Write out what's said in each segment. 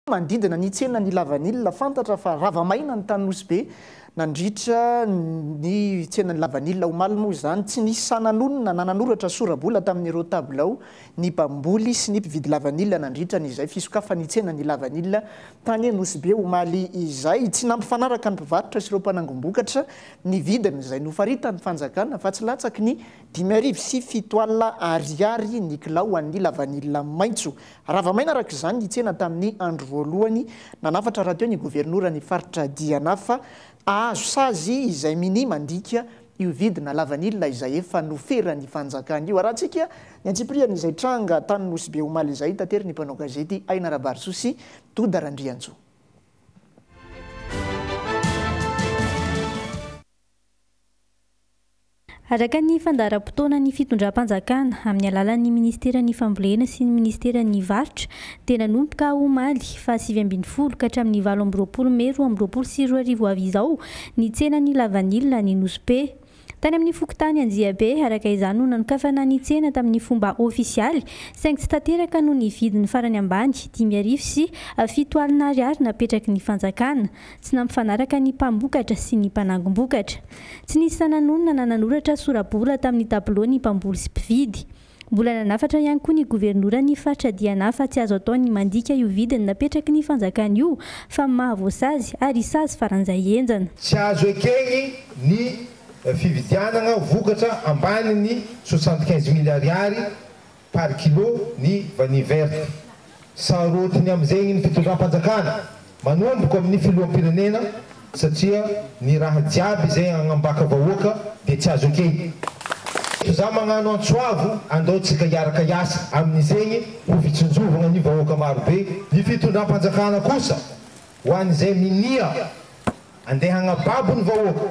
Manodidina ny tsenan'i Lavanila, fantatra fa rava maina ny tany Nosy Be nandritra ny tsenan'i Lavanila. Omaly moa izany, tsy nisy sahy nanonona na nanoratra sora-bola tamin'ireo tabilao ny mpamboly sy ny mpividy lavanila nandritra ny izay fisokafan'ny tsenan'i Lavanila tany Nosy Be omaly izay. Tsy nampifanaraka ny mpivarotra sy ireo mpanangom-bokatra ny vidiny izay nofaritan'ny fanjakana fa tsy latsaky ny dimy arivo sy fito alina ariary ny kilao ho an'ny lavanila maitso. Rava maina araka izany ny tsena tamin'ny andro voalohany nanafatra rahateo ny governoran'ny faritra Diana fa azo sazy izay minia mandika io vidina lavanila izay efa noferan'ny fanjakana io. Arahantsika ny antsipirian'izay tranga tany Nosy Be omaly izay, tatery ny mpanao gazety Aina Rabarisoa sy Doda Randriantsoa. Araka ny fandaharam-potoanan'ny fitondram-panjakana, amin'ny alalan'ny Ministeran'ny Fambolena sy ny Ministeran'ny Varotra, dia nanomboka omaly faha sivy ambin'ny folo ka hatramin'ny valo amby roapolo mey roa amby roapolo sy roa arivo avy izao ny tsenan'ny lavanila any Nosy-Be. Tany amin'ny fokontany Anjiabe, araka izany, no nanokafana ny tsena tamin'ny fomba ofisialy, saingy tsy tanteraka noho ny vidiny farany ambany, dimy arivo sy fito alina ariary napetraky ny fanjakana. Tsy nampifanaraka ny mpambokatra sy ny mpanangom-bokatra. Tsy nisy sanan'olona na nanoratra sora-bola tamin'ny tabilao ny mpamboly sy mpividy. Mbola nanafatra ihany koa ny governora ny faritra Diana fa tsy azo atao ny mandika io vidiny napetraky ny fanjakana io fa maha voasazy ary sazy faran'izay henjana. Tsy azo ekeny ny fividianana vokatra ambany ny soixante-quinze mille ariary par kilo ny vanille verte. Sarotiny amin'izegny ny fitondram-panjakana manomboka amin'ny filoham-pirenena satria ny raha jiaby izay agnambaka vahoaka dia tsy azo ekena. Eto za magnano antso avo andao tsika hiaraka hiasa amin'izegny ho fitsinjovagna ny vahoaka maro be. Ny fitondram-panjakana kosa ho an'izay minia andeha agnababo ny vahoaka.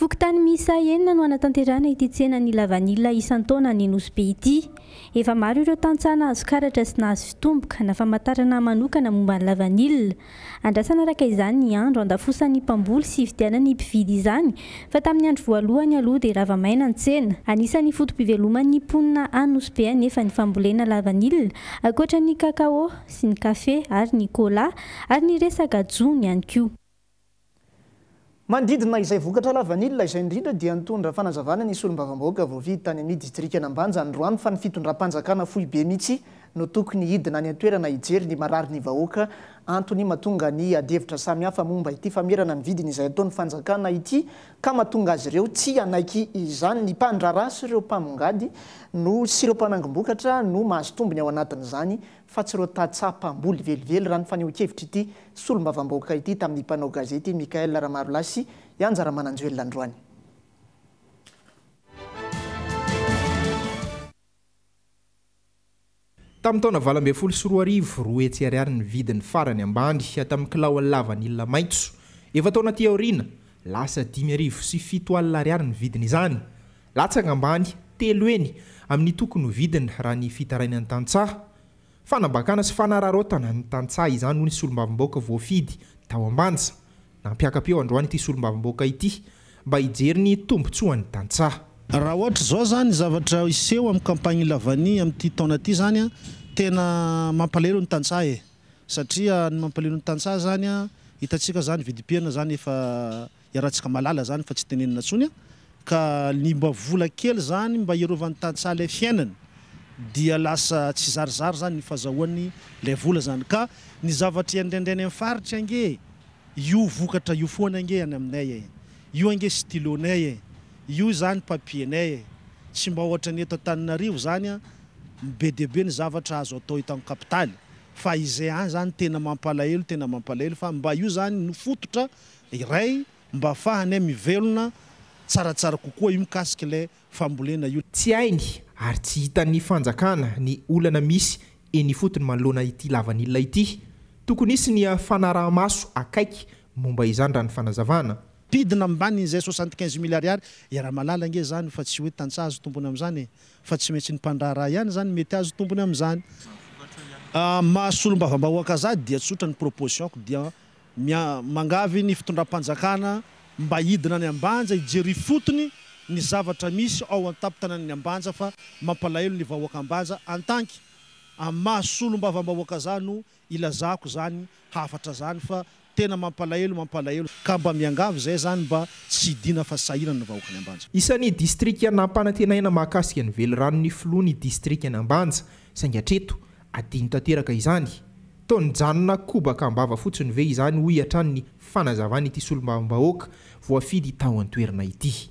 Fokontany miisa enina no hanatanterahana ity tsenan'ny lavanila isan-taona any Nosy-Be ity. Efa maro ireo tantsaha nahazo karatra sy nahazo fitomboka na famantarana manokana momba ny lavanila. Andrasana araka izany ny andro handafosan'ny mpamboly sy hividianan'ny mpividy izany fa tamin'ny andro voalohany aloha dia rava maina ny tsena. Anisan'ny foto-piveloman'ny mponina any Nosy-Be anefa ny fambolena lavanila, ankoatra ny cacao sy ny kafe ary ny cola ary ny resaka jono ihany koa. Manodidina izay vokatra lavanila izay indrindra dia nitondra fanazavana ny solombavambahoaka voafidy tany amin'ny distrikan'Ambanja androany fa ny fitondram-panjakana foibe mihitsy no tokony hidina any an-toerana hijery ny marary ny vahoaka antony matonga ny adihevitra samihafa momba ity famerana ny vidiny izay ataon'ny fanjakana ity ka matonga azy ireo tsy hanaiky izany ny mpandraharaha sy ireo mpamongady no sy ireo mpanangom-bokatra no mahazo tombony ao anatin'izany fa tsy ireo tantsaha mpamboly velively, raha ny fanehoan-kevitr'ity solombavambahoaka ity tamin'ny mpanao gazety Michaël Ramarolahy sy i Anja Ramananjoelina androany. Tamin'ny taona valo ambin'ny folo sy roa arivo, roa hetsy ariary ny vidiny farany ambany tamin'ny kilao lavanila maitso. Efa-taona aty aoriana, lasa dimy arivo sy fito alina ariary ny vidin'izany. Latsaka ambany telo heny amin'ny toko novidiny raha ny fitarainan'ny tantsaha. Fanambakana sy fanararaotana ny tantsaha izany hoy ny solombavambaoka voafidy tao Ambanja. Nampiaka-peo androany ity solombavambaoka ity mba hijery ny tombontsoan'ny tantsaha. Raha ohatra izao izany ny zavatra hiseho amin'ny campagne Lavani amin'ity taona ity izany tena mampalahelo ny tantsaha e! Satria ny mampalahelo ny tantsaha izany hitantsika izany vidim-piainana izany efa Iarahantsika malala zany fa tsy tenenina ntsony a! Ka ny mba vola kely zany mba hiarovany tantsaha lay fiainany dia lasa tsy zarizary zany ny fazahoany lay vola zany ka ny zavatra iandraindrainy any faritra ange io vokatra io foana ange any aminay e! Io ange stylo nay e! Io zany papier nay e! Tsy mba ohatran'ny eto Antananarivo zany a! Be dia be ny zavatra azo atao eto am kapitaly fa izay any zany tena mampalahelo tena mampalahelo fa mba io zany no fototra iray mba afahanay mivelona tsaratsara kokoa io mikasika ilay fambolena io. Tsy hainy ary tsy hitan'ny fanjakana ny olana misy eny ifotony manoloana ity lavanila ity. Tokony hisy ny fanaraha-maso akaiky momba izany raha ny fanazavana. Ampidina ambanin'izay soixante quinze mille ariary e Ramalala ange izany fa tsy hoe tantsaha azo tombony amin'izany e! Fa tsy maintsy ny mpandraharaha ihany izany mety azo tombony amin'izany. Maha solombavambahoaka ahy dia tsotra ny proposition-ko dia Mangavy ny fitondram-panjakana mba hidina any Ambanja hijery ifotony ny zavatra misy ao an-tampon-tanan'ny Ambanja fa mampalahelo ny vahoaka Ambanja antanky amin'ny maha solombavambahoaka za no ilazako zany hafatra zany fa tena mampalahelo mampalahelo ka mba miangavy zay zany mba tsy hidina fa sahirana ny vahoakan'i Ambanja. Isan'ny distrika nampanantenaina mahakasika ny veliranon'ny filoha ny distrikan'i Ambanja saingy hatreto Adino tanteraka izany. Toa nijanona kobaka am-bava fotsiny ve izany hoy hatrany ny fanazavan'ity solombavambahoaka voafidy tao an-toerana ity.